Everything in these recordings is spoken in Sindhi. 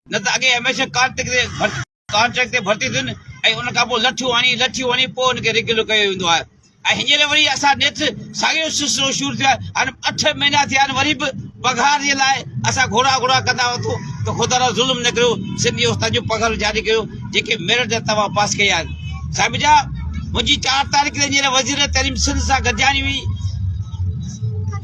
نه ته اڳي هميشه ڪانٽريڪٽ تي ڀرتي ٿين ۽ ان کان پوء لٺيون هڻي لٺيون هڻي پوء ان کي ريگيولر ڪيو ويندو آهي ۽ هينئر وري اسان نيٺ ساڳيو سلسلو شروع ٿيو آهي هاڻي اٺ مهينا ٿيا آهن وري به پگهار جي لاء اسان گهورا گهورا ڪندا وتو ته خدا را ظلم نه ڪريو سنڌي استاد جو پگهار جاري ڪيو جيڪي ميرٽ جا توهان پاس ڪيا آهن صاحب جا منهنجي چار تاريخ تي هينئر وزير تعليم سنڌ سان گڏجاڻي هئي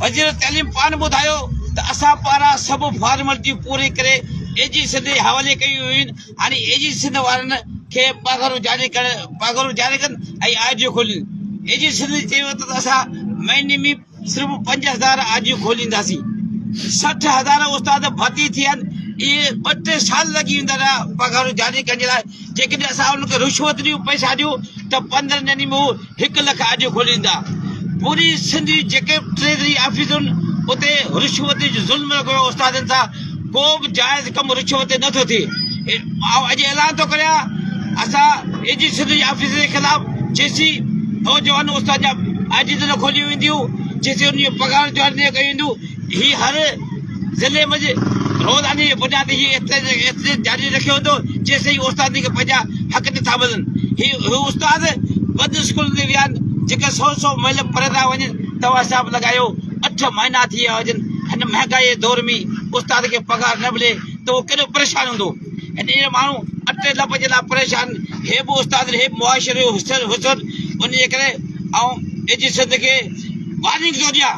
وزير تعليم پاڻ ٻڌايو ته اسان پاران سڀ فارملٽيون پوري ڪري اي جي سنڌ جي حوالي ڪيون ويون هاڻي اي جي سنڌ وارن کي پگهرون جاري ڪن ۽ آرجيون کولين اي جي سنڌ چيو ته اسان مهيني ۾ صرف پنج هزار آرجيون کولينداسين سٺ هزار استاد ڀرتي ٿي آهن اهي ٻه ٽي سال لڳي ويندا رهيا پگهرون جاري ڪرڻ جي لاء جيڪڏهن اسان انهن کي رشوت ڏيون پئسا ڏيون ته پندرهن ڏينهن ۾ هو هڪ لک آڊيو کوليندا پوري سنڌ جي جيڪي به ٽريزري آفيس هن اتي رشوت جو ظلم رکيو ويو استادن سان ڪو به جائز ڪم رشوت تي نه ٿو ٿئي آئون اڄ اعلان ٿو ڪريان اسان اي جي سنڌ جي آفيس جي خلاف جيسي نوجوان استاد جا آڊيو نه کوليون وينديون جيسي ان جي پگهار جوائن نه ڪيون وينديون هي هر ضلعي منجهه روزاني جي بنياد هي احتجاج جاري رکيو ويندو جيستائين استادن کي پنهنجا حق نٿا ملن. هي استاد بند اسڪولن تي ويا آهن جيڪي سؤ سؤ ميل پري ٿا وڃن توهان حساب لڳايو اٺ مهينا ٿي ويا هجن هن مهانگائي جي دور ۾ استاد کي پگهار نه ملي ته اهو ڪيڏو پريشان هوندو هن جهڙا ماڻهو اٽي لپ جي لاء پريشان هي به استاد هي به معاشري جو حسن ان جي ڪري آئون ايجي سنڌ کي وارننگ ٿو ڏيان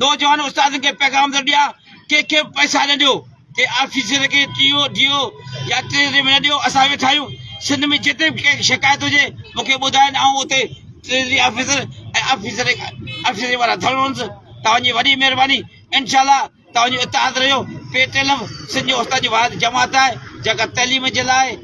نوجوان استادن کي پيغام ٿو ڏيان ڪنهن کي به پئسا نه ڏيو ڪنهن آفيسر کي ٽي او ڊي او يا ٽريزري ۾ نه ڏيو اسان ويٺا آهيون سنڌ ۾ جتي به ڪنهن کي شڪايت هجي مون کي ٻڌائين آئون اتي ٽريزري آفيسر ۽ آفيسر آفيسري وارا ڌرڻونس توهان جي وڏي مهرباني انشاء الله توهان جو اتحاد رهيو P T L F Sindh جو استاد جي واحد جماعت آهي جيڪا تعليم جي لاء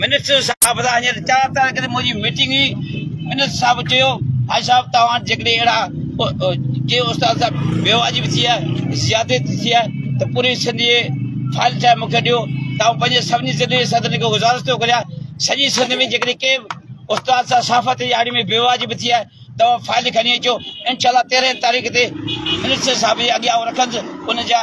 منسٽر صاحب سان هينئر چار تاريخ تي منهنجي ميٽنگ هئي، منسٽر صاحب چيو حاجي صاحب توهان وٽ جيڪڏهن اهڙا ڪي استاد صاحب بيواجب ٿي آهي، زيادتي ٿي آهي ته پوري سنڌ جي فائل ٺاهي مون کي ڏيو ته آئون پنهنجي سڀني ضلعي جي صدرن کي گذارش ٿو ڪريان سڄي سنڌ ۾ جيڪڏهن ڪي استاد صاحب صحافت جي آڙي ۾ بيواجب ٿي آهي توهان فائل کڻي اچو انشاءالله تيرهن تاريخ تي منسٽر صاحب جي اڳيان آئون رکندس ان جا